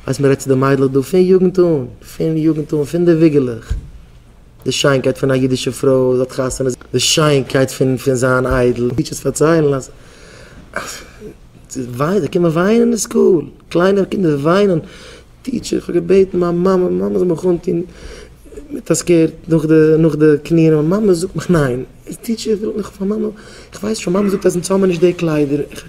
ווייסט מען רעדט צו די מיידלעך דא פון יוגנט אן, פון יוגנט אן, פון די וויגעלעך, די שיינקייט פון א אידישע פרוי, זי האט חתונה, די שיינקייט פון פון זיין איידל, טיטשערס פארציילן אז אז זי וויינט, זיי קומען וויינען אין סקול, קליינע קינדער וויינען, טיטשער איך האב געבעטן מיין מאמע, מיין מאמע זאל מיך אנטון מיט א סקערט נאך די נאך די קניען, מיין מאמע זאגט מיך ניין, טיטשער איך וויל, איך ווייס שוין, מיין מאמע זאגט אז אונז האבן מיר נישט די קליידער, איך,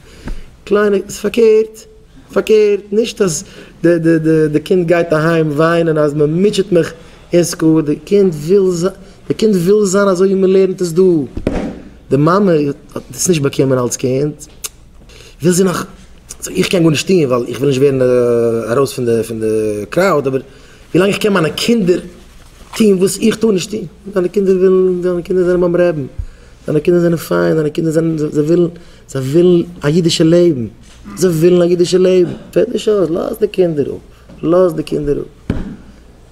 קליינע, ס'פארקערט. פארקערט, נישט אז די קינד גייט אהיים וויינען אז מען מוטשעט מיך אין סקול, די קינד וויל זיין אזוי ווי מען לערנט עס דא, די מאמע האט דאס נישט באקומען אלס קינד, וויל זי נאך, סאו איך קען גארנישט טון ווייל איך וויל נישט ווערן ארויס פון די קראוד, אבער ווילאנג איך קען מיינע קינדער טון וואס איך טאר נישט טון, דיינע קינדער ווילן, דיינע קינדער זענען ביים רעבן, דיינע קינדער זענען פיין, דיינע קינדער זענען, זיי ווילן א אידישע לעבן. זיי ווילן א אידישע לעבן, פעלט נישט אויס, לאז די קינדער אפ, לאז די קינדער אפ.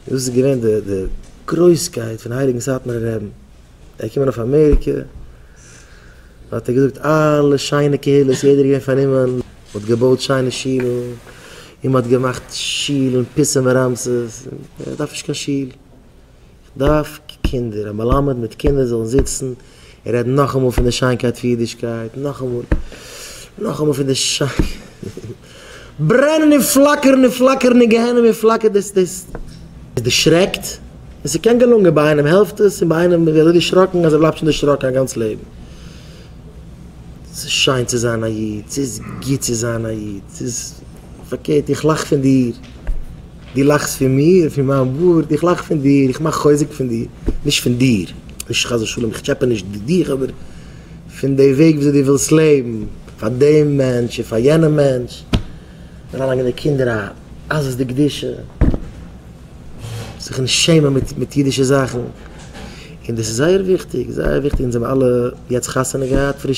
דאס איז געווען די די גרויסקייט פון הייליגן סאטמארער רעבן. ער איז געקומען אויף אמעריקע, האט ער געזאגט אלע שיינע קהילות, יעדער איז געווען פארנומען, מען האט געבויט שיינע שילן, און מען האט געמאכט שילן פיסים ורמסס, ער דארף נישט קיין שול. כ'דארף קינדער, א מלמד מיט קינדער זאלן זיצן און רעדן נאכאמאל פון די שיינקייט פון אידישקייט, נאכאמאל, נאכאמאל פון די שיינקייט, ברענען און פלאקערן און פלאקערן אין גיהנום און פלאקער דאס דאס עס דערשרעקט, און ס'קען געלונגען, ביי איינעם העלפט עס און ביי איינעם איז ער אזוי דערשראקן אז ער בלייבט שוין דערשראקן א גאנץ לעבן. ס'איז שיין צו זיין א איד, ס'איז גוט צו זיין א איד, ס'איז פארקערט איך לאך פון דיר. דו לאכסט פון מיר, פון מיין בארד, איך לאך פון דיר, איך מאך חוזק פון דיר, נישט פון דיר, נישט חס ושלום, איך טשעפע נישט דיך, אבער פון די וועג וויאזוי דו ווילסט לעבן, פאר דעם מענטש און פאר יענעם מענטש, אריינלייגן די קינדער א עזות דקדושה, זיך נישט שעמען מיט מיט אידישע זאכן, און דאס איז זייער וויכטיג, זייער וויכטיג, אונז האבן אלע יעצט חתונה געהאט, פרישע